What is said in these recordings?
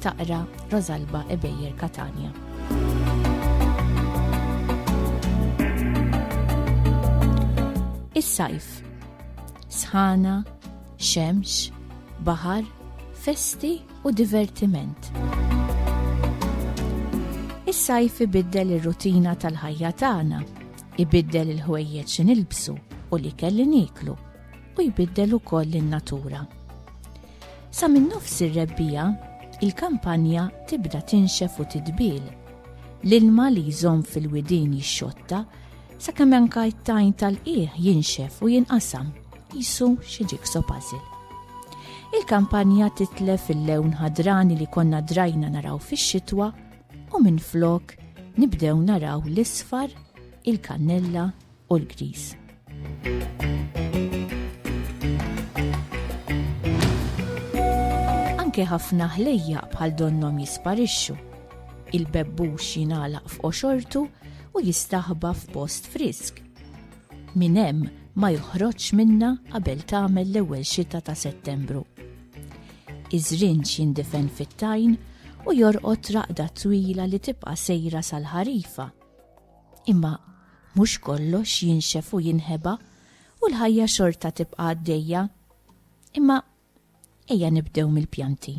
Taqra Rosalba Ebejer Katania. Is-sajf. Sħana, xemx, baħar, festi u divertiment. Is-sajf ibiddel ir-rutina tal-ħajja tagħna, ibiddel il-ħwejjeġ nilbsu u li kelli niklu u jbiddel ukoll in-natura. Sa minn nofs ir-rebbiegħa, il-kampanja tibda tinxef u titbil. L-ilma li jżomm fil-widien jixxotta sakemm anka t-tajn tal-qiegħ jinxef u jinqasam jisu xi ġikso puzzle. Il-kampanja titlef il-lewn ħadrani li konna drajna naraw fix-xitwa u minn flok nibdew naraw l-isfar, il-kannella u l-griż. Anke ħafna ħlejja bħal donnom jisparixxu. Il-bebbux jingħalaq f'qoxortu u jistaħba f'post frisk. Min hemm ma joħroġx minna qabel tagħmel l-ewwel xita ta' Settembru. Iż-żrinġ jindifen fit-tajn u jorqod raqda twila li tibqa' sejra sal-ħarifa. Imma mhux kollox jinxef u jinħeba u l-ħajja xorta tibqa' għaddejja. Imma ejja nibdew mill-pjanti.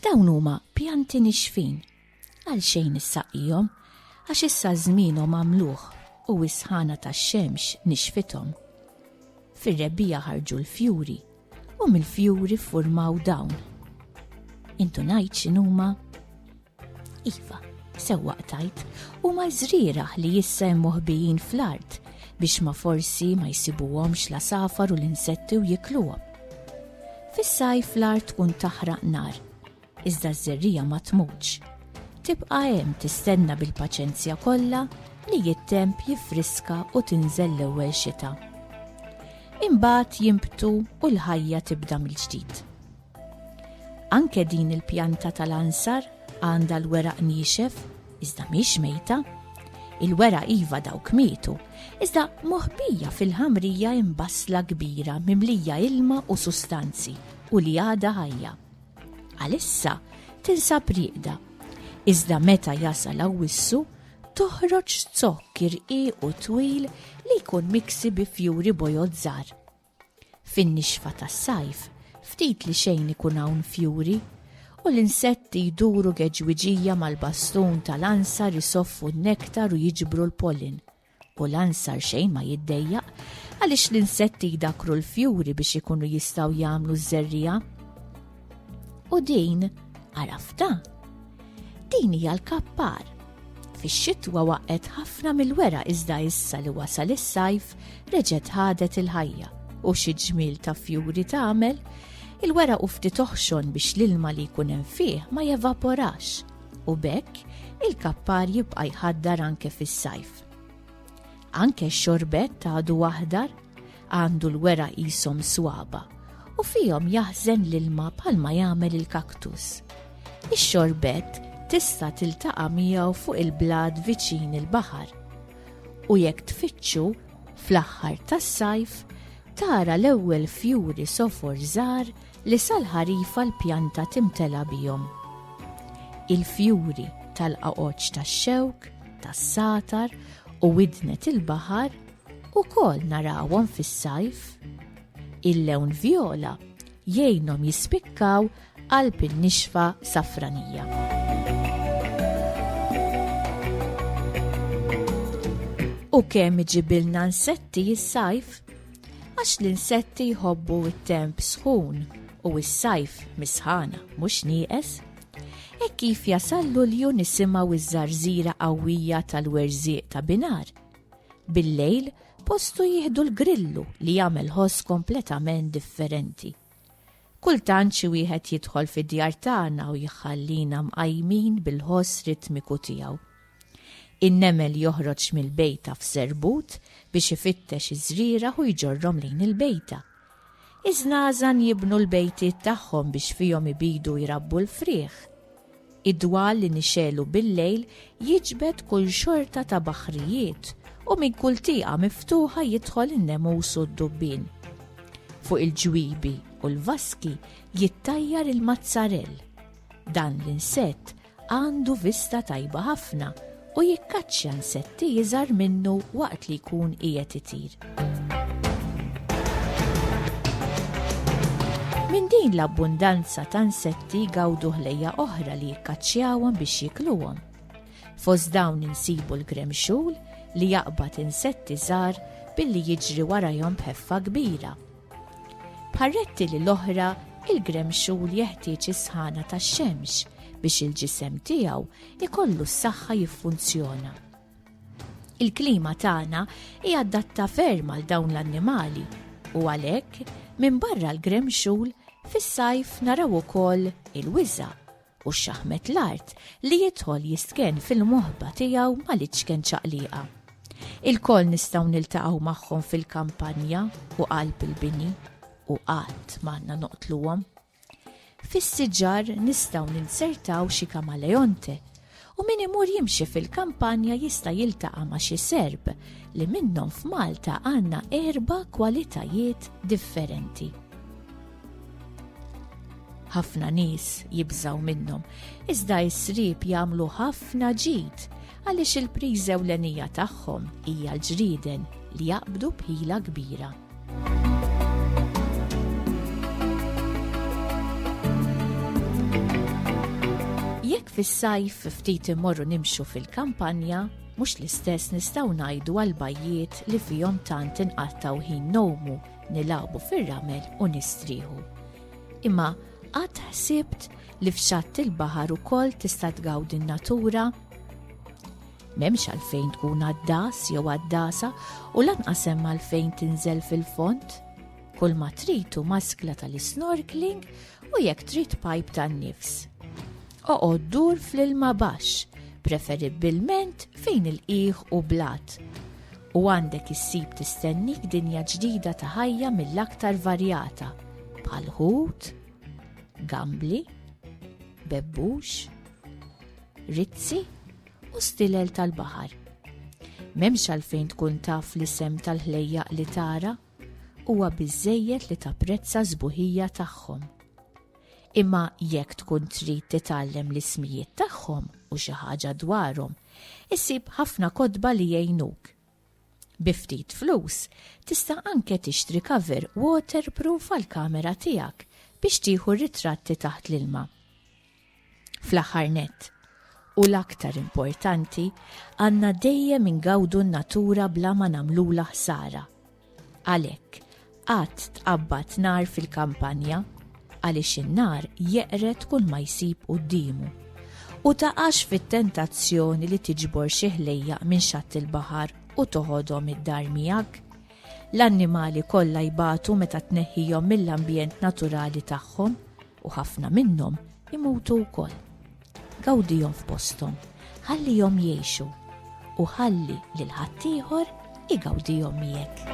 Dawn huma pjanti nixfin. Għal xejn issaqihom, għax issa żmienhom għamluh u s-sħana tax-xemx nixfithom. Fir-rebbija ħarġu l-fjuri U mill-fjuri ffurmaw dawn. Intu ngħid x'inhuma? Iva, sewwa qtajt, huma żrierah li jissa hemm moħbijin fl-art biex ma forsi ma jsibuhomx la safar u l-insetti u jikluhom. Fis-sajf l-art tkun taħraq nar Iżda ż-żerriegħa ma tmutx. Tibqa' hemm tistenna bil-paċenzja kollha li jittemp jiffriska u tinżel l-ewwel xita. Imbagħad jimbtu u l-ħajja tibda mill-ġdid. Anke din il-pjanta tal-ansar għandha l-weraq niexef, iżda mhix mejta. Il-wera iva dawk mietu, iżda moħbija fil-ħamrija imbasla kbira mimlija ilma u sustanzi u li għada ħajja. Għalissa tinsab rieqda, iżda meta jasal awwissu toħroġ zokk irqiq u twil li jkun miksi bi fjuri bojozzar. Fin-nixfa tas-sajf, ftit li xejn ikun hawn fjuri, u l-insetti jduru geġwiġija mal-bastun tal-ansa risoffu n-nektar u jiġbru l-pollen. U l-ansar xejn ma jiddejjaq għaliex l-insetti jdakru l-fjuri biex ikunu jistgħu jagħmlu ż-żerriegħa. U din għarafta? Din hija l-kappar. Fix-xitwa waqgħet ħafna mill-wera iżda issa li wasal is-sajf reġgħet ħadet il-ħajja u xi ġmiel ta' fjuri tagħmel il-wera u ftit oħxon biex l-ilma li jkun hemm fih ma jevaporax u bekk il-kappar jibqa' jħaddar anke fis-sajf. Anke x-xorbet ta' għadu aħdar għandu l-wera qishom swaba u fihom jaħżen l-ilma bħalma jagħmel il-kaktus. Ix-xorbet tista' tiltaqa' miegħu fuq il-blad viċin il-baħar. U jekk tfittxu fl-aħħar tas-sajf tara l-ewwel fjuri sofor żgħar Li sal-ħarifa l-pjanta timtela bihom. Il-fjuri tal-qagħoġ tax-xewk, tas-satar u widnet il-baħar ukoll narawhom fis-sajf. Il-lewn vjola jgħinhom jispikkaw qalb in-nixfa safranija. U kemm iġibilna nsetti s-sajf? Għax l-insetti jħobbu t-temp sħun u s-sajf misħana mhux nieqes. E kif jasal lulju nisimgħu iż-żarżira qawwija tal-werżieq ta' binar. Bil-lejl postu jieħdu l-grillu li jagħmel ħoss kompletament differenti. Kultant xi wieħed jidħol fid-djar tagħna u jħallina mqajmin bil-ħoss ritmiku tiegħu. In-nemel joħroġ mill-bejta f'serbut biex ifittex iż-żrieragħ u jġorrhom lejn il-bejta. Iż-żnażan jibnu l-bejtiet tagħhom biex fihom ibidu jrabbu l-frieħ. Id-dwal li nixegħlu bil-lejl jiġbed kull xorta ta' baħrijiet u minn kull tieqa miftuħa jidħol in-nemus u d-dubbien. Fuq il-ġwiebi u l-vaski jittajjar il-mazzarell. Dan l-insett għandu vista tajba ħafna u jikkaċċja nsetti iżgħar minnu waqt li jkun qiegħed itir. Minn din l-abbundanza ta' nsetti gawdu ħlejja oħra li jikkaċċjawhom biex jikluhom. Fost dawn insibu l-gremxul li jaqbad insetti żgħar billi jiġri warajhom b'ħeffa kbira. Parretti li l-oħra, il-gremxul jeħtieġ is-sħana tax-xemx biex il-ġisem tiegħu ikollu s-saħħa jiffunzjona. Il-klima tagħna hija adatta ferm għal dawn l-annimali u għalhekk minn barra l-gremxul fis-sajf naraw ukoll il-wiża u x-xaħmet l-art li jidħol jistken fil-moħba tiegħu mal-iċken ċaqliqa. Il-kol nistgħu niltaqgħu magħhom fil-kampanja u qalb il-bini u qatt m'għandna noqtluhom. Fis-siġar nistgħu ninsertaw xi kamaleonte u min imur jimxi fil-kampanja jista' jiltaqa' ma' xi Serb li minnhom f'Malta għandna erba' kwalitajiet differenti. Ħafna nies jibżgħu minnhom, iżda s-Sriep jagħmlu ħafna ġid għaliex il-priża ewlenija tagħhom hija l-ġrieden li jaqbdu b'ħila kbira. Jekk fis-sajf ftit imorru nimxu fil-kampanja, mhux l-istess nistgħu ngħidu għal bajjiet li fihom tant inqattgħu ħin nomu, nilagħbu fir-ramel u nistrieħu. Imma qatt ħsibt li f'xatt il-baħar ukoll tista' tgawdi n-natura? M'hemmx għalfejn tkun għaddas jew għaddasa u lanqas hemm għalfejn tinżel fil-fond. Kull ma tritu maskla tal-snorkeling u jekk trid pipe tan-nifs. Oqgħod dur fl-ilma baxx, preferibbilment fejn il-qiegħ u blat. U għandek issib tistennik dinja ġdida ta' ħajja mill-aktar varjata, bħal ħut, gambli, bebbux, rizzi, u stilel tal-baħar. M'hemmx għalfejn tkun taf l-isem tal-ħlejjaq li tara, huwa biżżejjed li tapprezza żbuħija tagħhom. Imma jekk tkun trid titgħallem l-ismijiet tagħhom u xi ħaġa dwarhom, issib ħafna kodba li jgħinuk. Biftit flus, tista' anke tixtri cover waterproof għal kamera tiegħek biex tieħu ritratti taħt l-ilma. Fl-aħħar nett, u l-aktar importanti, għandna dejjem ingawdu n-natura bla ma nagħmlulha ħsara. Għalhekk, qatt tqabbad nar fil-kampanja, għaliex in-nar jeqred kull ma jsib quddiemu. U taqax fit-tentazzjoni li tiġbor xi ħlejjaq minn xatt il-baħar u toħodhom id-dar miegħek. L-annimali kollha jbatu meta tneħħihom mill-ambjent naturali tagħhom. U ħafna minnhom imutu wkoll. Gawdihom f'posthom, ħallihom jgħixu u ħalli lil ħaddieħor igawdihom miegħek.